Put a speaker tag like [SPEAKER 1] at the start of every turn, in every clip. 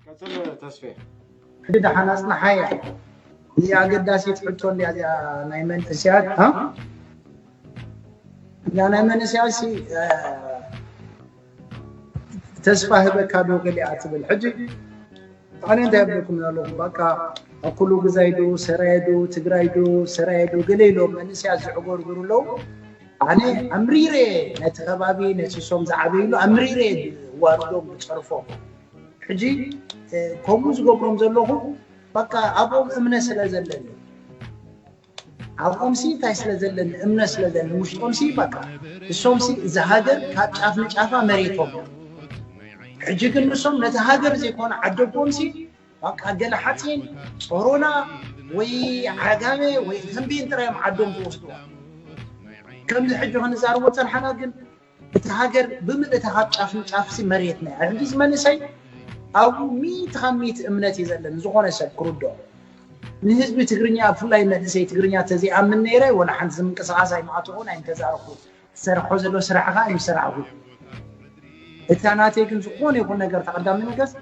[SPEAKER 1] ቀጽል ተስፌ። ሕጂ ደሓን
[SPEAKER 2] ኣጽንሓያ እዚ ኣገዳሲት ሕቶ እንድያ እዚኣ ናይ መንእስያት እ እዛ ናይ መንእስያት ሲ ተስፋ ህበካ ዶ ገሊኣ ትብል ሕጂ ኣነ እንታይ ኣብለኩም ኣለኹ በቃ ኣብ ኩሉ ግዛይ ዶ ሰራየ ዶ ትግራይ ዶ ሰራየ ዶ ገለ ኢሎም መንእስያት ዝዕጎርጉሩ ኣለዉ ኣነ ኣምሪረ እየ ነቲ ከባቢ ነሲሶም ዝዓበይሉ ኣምሪረ እየ ዝዋርዶም ዝፀርፎም ሕጂ ከምኡ ዝገብሮም ዘለኹ በቃ ኣብኦም እምነ ስለ ዘለኒ ኣብኦም ሲ እንታይ ስለ ዘለኒ እምነ ስለ ዘለኒ ውሽጦም ሲ በቃ እሶም ሲ እዚ ሃገር ካብ ጫፍ ንጫፋ መሬቶም ሕጂ ግን ንሶም ነቲ ሃገር ዘይኮነ ዓደቦም ሲ ባቃ ገለ ሓጺን ጾሮና ወይ ዓጋመ ወይ ተምቤን ጥራይ እዮም ዓዶም ዝወስዱዋ ከምዚ ሕጂ ክንዛርቦ ጸንሓና ግን እቲ ሃገር ብምልእታ ካብ ጫፍ ንጫፍ ሲ መሬት ናይ ሕጂ ዝመንእሰይ ኣብኡ ሚእቲ ካብ ሚእቲ እምነት እዩ ዘለን ዝኾነ ሰብ ክርድኦ ንህዝቢ ትግርኛ ብፍላይ መንእሰይ ትግርኛ ተዘይኣምን ነይረ ወላ ሓንቲ ዝምንቅስቓስ ኣይምኣተኹን ኣይምተዛረኹን ትሰርሖ ዘሎ ስራሕ ከኣ እዩ ስራሕ ጉድ እታ ናተይ ግን ዝኾነ ይኹን ነገር ተቐዳሚ ነገስ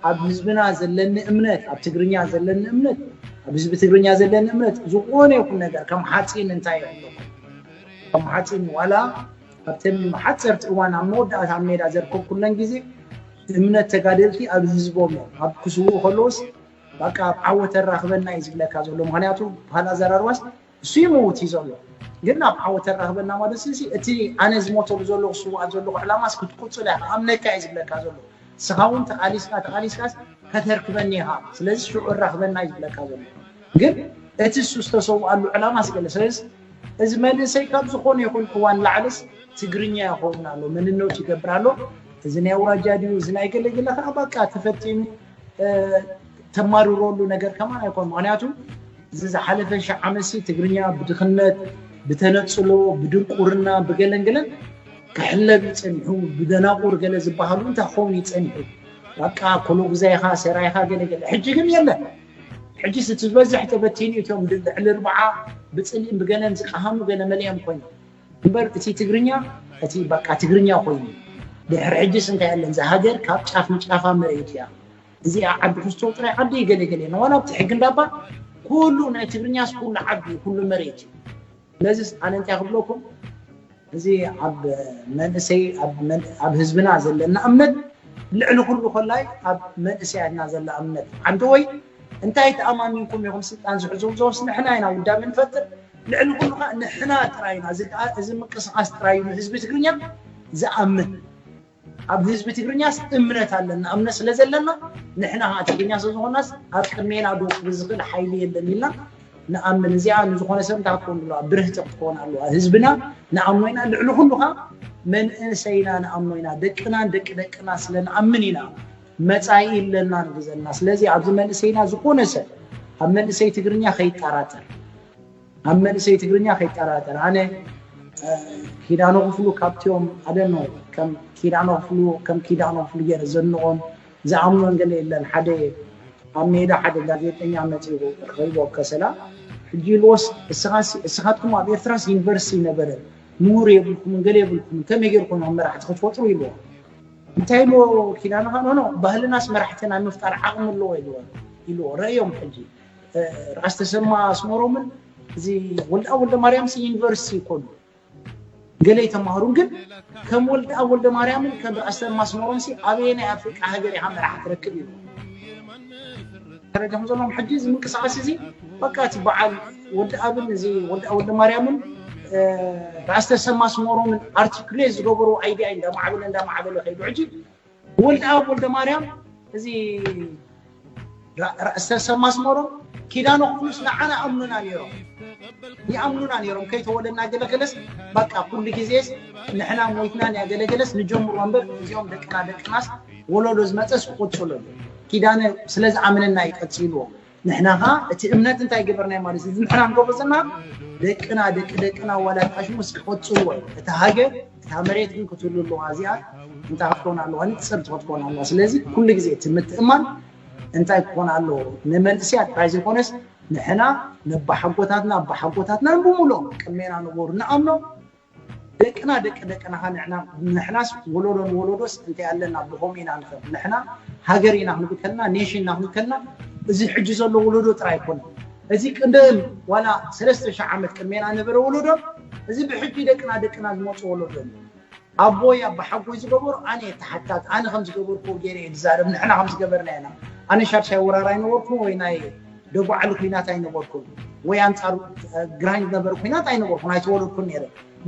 [SPEAKER 2] ኣብ ህዝብና ዘለኒ እምነት ኣብ ትግርኛ ዘለኒ እምነት ኣብ ህዝቢ ትግርኛ ዘለኒ እምነት ዝኾነ ይኹን ነገር ከም ሓፂን እንታይ ይብሎ ከም ሓፂን ዋላ ኣብተን ሓፀርቲ እዋን ኣብ መወዳእታ ኣብ ሜዳ ዘርከብኩለን ግዜ እምነት ተጋደልቲ ኣብ ህዝቦም እዮም ኣብ ክስውኡ ከለዎስ በቃ ኣብ ዓወት ተራኽበና እዩ ዝብለካ ዘሎ ምክንያቱ ባህል ኣዘራርባስ እሱ ይመውት እዩ ዘሎ ግን ናብ ዓወት ተራክበና ማለት ስለዚ እቲ ኣነ ዝሞተሉ ዘለኹ ስዋኣት ዘለኹ ዕላማስ ክትቁፅል እያ ኣምነካ እዩ ዝብለካ ዘሎ ንስኻ እውን ተቃሊስካ ተቃሊስካስ ከተርክበኒ ኢኻ ስለዚ ሽዑ እራክበና እዩ ዝብለካ ዘሎ ግን እቲ እሱ ዝተሰውኣሉ ዕላማ ስገለ ስለዚ እዚ መንእሰይ ካብ ዝኾነ ይኹን እዋን ላዕልስ ትግርኛ ይኸውን ኣሎ መንነቱ ይገብር ኣሎ እዚ ናይ ኣውራጃ ድዩ እዚ ናይ ገለገለ ከዓ በቃ ተፈቲኑ ተማርረሉ ነገር ከማ ኣይኮን ምክንያቱ እዚ ዝሓለፈ ሸ ዓመሲ ትግርኛ ብድኽነት ብተነፅሎ ብድንቁርና ብገለንግለን ክሕለብ ይፀኒሑ ብደናቁር ገለ ዝበሃሉ እንታይ ክኸውን ይፀኒሑ በቃ ኮሎ ግዛይካ ሰራይካ ገለገለ ሕጂ ግን የለን ሕጂ እቲ ዝበዝሕ ተበቲኑ እቶም ልዕሊ ርብዓ ብፅልኢን ብገለን ዝቀሃሙ ገለ መሊኦም ኮይኑ እምበር እቲ ትግርኛ እቲ በቃ ትግርኛ ኮይኑ ድሕሪ ሕጅስ እንታይ ኣለን እዛ ሃገር ካብ ጫፍ ንጫፋ መሬት እያ እዚኣ ዓዲ ክስቶ ጥራይ ዓዲ ገለ ገለ ንዋላ ኣብቲ ሕጊ እንዳባ ኩሉ ናይ ትግርኛስ ኩሉ ዓዲ ኩሉ መሬት እዩ ስለዚስ ኣነ እንታይ ክብለኩም እዚ ኣብ መንእሰይ ኣብ ህዝብና ዘለና እምነት ልዕሊ ኩሉ ኮላይ ኣብ መንእሰያትና ዘላ እምነት ዓዲ ወይ እንታይ ተኣማሚንኩም ኢኹም ስልጣን ዝሕዙ እዞስ ንሕና ኢና ውዳቤ ንፈጥር ልዕሊ ኩሉ ከኣ ንሕና ጥራይ ኢና እዚ ከኣ እዚ ምቅስቃስ ጥራይ እዩ ንህዝቢ ትግርኛ ዝኣምን ኣብ ህዝቢ ትግርኛስ እምነት ኣለና እምነት ስለ ዘለና ንሕና ከኣ ትግርኛ ስለ ዝኾናስ ኣብ ቅድሜና ዶ ክብል ዝኽእል ሓይሊ የለን ኢልና ንኣምን እዚኣ ንዝኾነ ሰብ እንታይ ክትኮን ኣለዋ ብርህቲ ክትኮን ኣለዋ ህዝብና ንኣምኖ ኢና ልዕሊ ኩሉ ከኣ መንእሰይና ንኣምኖ ኢና ደቅናን ደቂ ደቅና ስለ ንኣምን ኢና መፃኢ ኣለና ንብል ዘለና ስለዚ ኣብዚ መንእሰይና ዝኾነ ሰብ ኣብ መንእሰይ ትግርኛ ከይጠራጠር ኣብ መንእሰይ ትግርኛ ከይጠራጠር ኣነ ኪዳኖ ክፍሉ ካብቲኦም ኣደኖ ከም ኪዳኖ ክፍሉ ከም ኪዳኖ ክፍሉ ገይረ ዘንቖም ዝኣምኖን ገለ የለን ሓደ ኣብ ሜዳ ሓደ ጋዜጠኛ መፂኡ ረኺቦ ኣብ ከሰላ ሕጂ ኢልዎስ እስኻትኩም ኣብ ኤርትራስ ዩኒቨርሲቲ ነበረ ምሁር የብልኩምን ገለ የብልኩምን ከመይ ጌርኩም ኣብ መራሕቲ ክትፈጥሩ ኢልዎ እንታይ ኢልዎ ኪዳነኻ ኖኖ ባህልናስ መራሕቲ ናይ ምፍጣር ዓቕሚ ኣለዎ ኢልዎ ረእዮም ሕጂ ራስ ተሰማ ኣስመሮምን እዚ ወልደኣብ ወልደማርያምስ ዩኒቨርሲቲ ይኮኑ ገለ ይተማሃሩን ግን ከም ወልደኣብ ወልደማርያምን ከም ራስ ተሰማ ኣስመሮምሲ ኣበየናይ ኣፍሪቃ ሃገር ኢኻ መራሒ ትረክብ ኢልዎ ደረጃ ከም ዘለዎም ሕጂ እዚ ምንቅስቃስ እዚ በቃ እቲ በዓል ወዲ ኣብን እዚ ወዲ ወዲ ማርያምን ራስ ተሰማ ስሞሮምን ኣርቲኩሌት ዝገበሩ ኣይዲያ እዩ እንዳማዕበለ እንዳማዕበለ ከይዱ ሕጂ ወልዲ ኣብ ወልደ ማርያም እዚ ራስ ተሰማ ስሞሮም ኪዳነ ኩሉስ ንዓና ኣምኑና ነይሮም ይኣምኑና ነይሮም ከይተወለድና ገለገለስ በቃ ኩሉ ግዜስ ንሕና ሞይትና ንያገለገለስ ንጀምሮ እምበር እዚኦም ደቅና ደቅናስ ወለዶ ዝመፀስ ክቕፅሉ እዩ ኪዳነ ስለ ዝኣመነና እዩ ቀጺልዎ ንሕና ከኣ እቲ እምነት እንታይ ገበርናዮ ማለት እዩ እዚ ንሕና ንገብሮ ዘለና ደቅና ደቂ ደቅና ዋላት ኣሽሙስ ክቐጽልዎ እዩ እታ ሃገር እታ መሬት ግን ክትህሉ ኣለዋ እዚኣ እንታይ ክትኮን ኣለዋ ንጽርቲ ክትኮን ኣለዋ ስለዚ ኩሉ ግዜ እቲ ምትእማን እንታይ ክኾን ኣለዎ ንመንእስያት ጥራይ ዘይኮነስ ንሕና ነባሓጎታትና ኣባሓጎታትና ንብምሎም ቅድሜና ነበሩ ንኣምኖም ደቅና ደቂ ደቅና ሃንዕና ንሕናስ ወሎዶ ንወሎዶስ እንታይ ኣለና ብኸምኡ ኢና ንኸድ ንሕና ሃገር ኢና ክንብል ከለና ኔሽን ኢና ክንብል ከለና እዚ ሕጂ ዘሎ ወሎዶ ጥራይ ኣይኮነን እዚ ቅድም ዋላ ሰለስተ ሽሕ ዓመት ቅድሜና ነበረ ወሎዶን እዚ ብሕጂ ደቅና ደቅና ዝመጹ ወሎዶን እዩ ኣቦይ ኣባሓጎይ ዝገበሩ ኣነ እየ ተሓታቲ ኣነ ከም ዝገበርክዎ ገይረ እየ ዝዛረብ ንሕና ከም ዝገበርና ኢና ኣነ ሻድሻይ ወራር ኣይነበርኩን ወይ ናይ ደጉዓሊ ኩናት ኣይነበርኩን ወይ ኣንጻር ግራኝ ዝነበረ ኩናት ኣይነበርኩን ኣይተወለድኩን ነይረ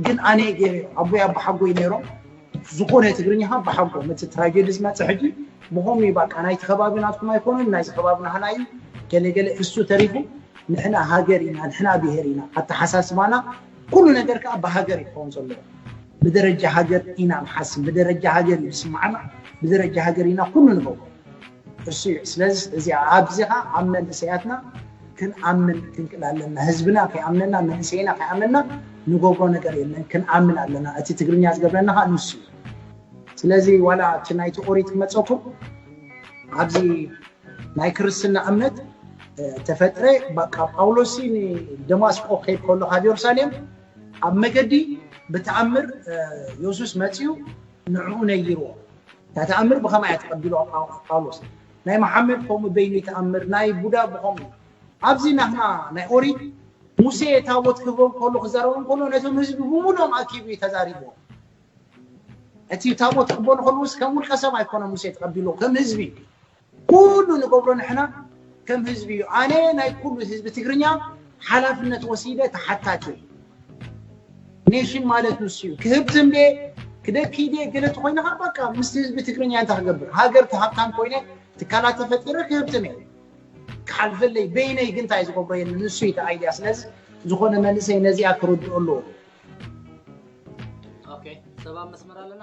[SPEAKER 2] ግን ኣነ ገይረ ኣቦይ ኣባሓጎይ ነይሮም ዝኾነ ትግርኛ ካብ ብሓጎ መቲ ትራጀዲ ዝመፅእ ሕጂ ብኸምኡ እዩ ባቃ ናይቲ ከባቢ ናትኩም ኣይኮነን ናይዚ ከባቢ ናህና እዩ ገለገለ እሱ ተሪፉ ንሕና ሃገር ኢና ንሕና ብሄር ኢና ኣተሓሳስባና ኩሉ ነገር ከዓ ብሃገር ይኸውን ዘለዎ ብደረጃ ሃገር ኢና ንሓስብ ብደረጃ ሃገር እዩ ዝስማዓና ብደረጃ ሃገር ኢና ኩሉ ንገብሮ እሱ እዩ ስለዚ እዚ ኣብዚኻ ኣብ መንእሰያትና ክንኣምን ክንክል ኣለና ህዝብና ከይኣምነና መንእሰይና ከይኣመና ንገብሮ ነገር የለን ክንኣምን ኣለና እቲ ትግርኛ ዝገብረና ከዓ ንሱ እዩ ስለዚ ዋላ እቲ ናይቲ ኦሪት ክመፀኩም ኣብዚ ናይ ክርስትና እምነት ተፈጥረ በቃ ጳውሎስ ንደማስቆ ከይድ ከሎ ካብ የሩሳሌም ኣብ መገዲ ብተኣምር የሱስ መፅኡ ንዕኡ ነይርዎ እታ ተኣምር ብኸማይ እያ ተቀቢልዋ ጳውሎስ ናይ መሓመድ ከምኡ በይኑ ይተኣምር ናይ ቡዳ ብኸምኡ እዩ ኣብዚ ናህና ናይ ኦሪት ሙሴ ታቦት ክህቦም ከሎ ክዛረቦም ከሎ ነቶም ህዝቢ ብምሉኦም ኣኪቡ እዩ ተዛሪብዎ እቲ ታቦት ክቅበሉ ከለውስ ከም ውልቀ ሰብ ኣይኮነ ሙሴ ተቀቢልዎ ከም ህዝቢ እዩ ኩሉ ንገብሮ ንሕና ከም ህዝቢ እዩ ኣነ ናይ ኩሉ ህዝቢ ትግርኛ ሓላፍነት ወሲደ ተሓታቲ እየ ኔሽን ማለት ንሱ እዩ ክህብ ዝንቤ ክደኪ ድየ ገለ ተኮይንካ በቃ ምስቲ ህዝቢ ትግርኛ እንታይ ክገብር ሃገር ተሃብታም ኮይነ ትካላት ተፈጢረ ክህብትም እየ ክሓልፈለይ በይነይ ግን እንታይ ዝገብሮ የለ ንሱ እዩ ተኣያ ስለዚ ዝኾነ መንእሰይ ነዚኣ ክርድኦ
[SPEAKER 1] ኣለዎ ሰባ
[SPEAKER 2] መስመር ኣለና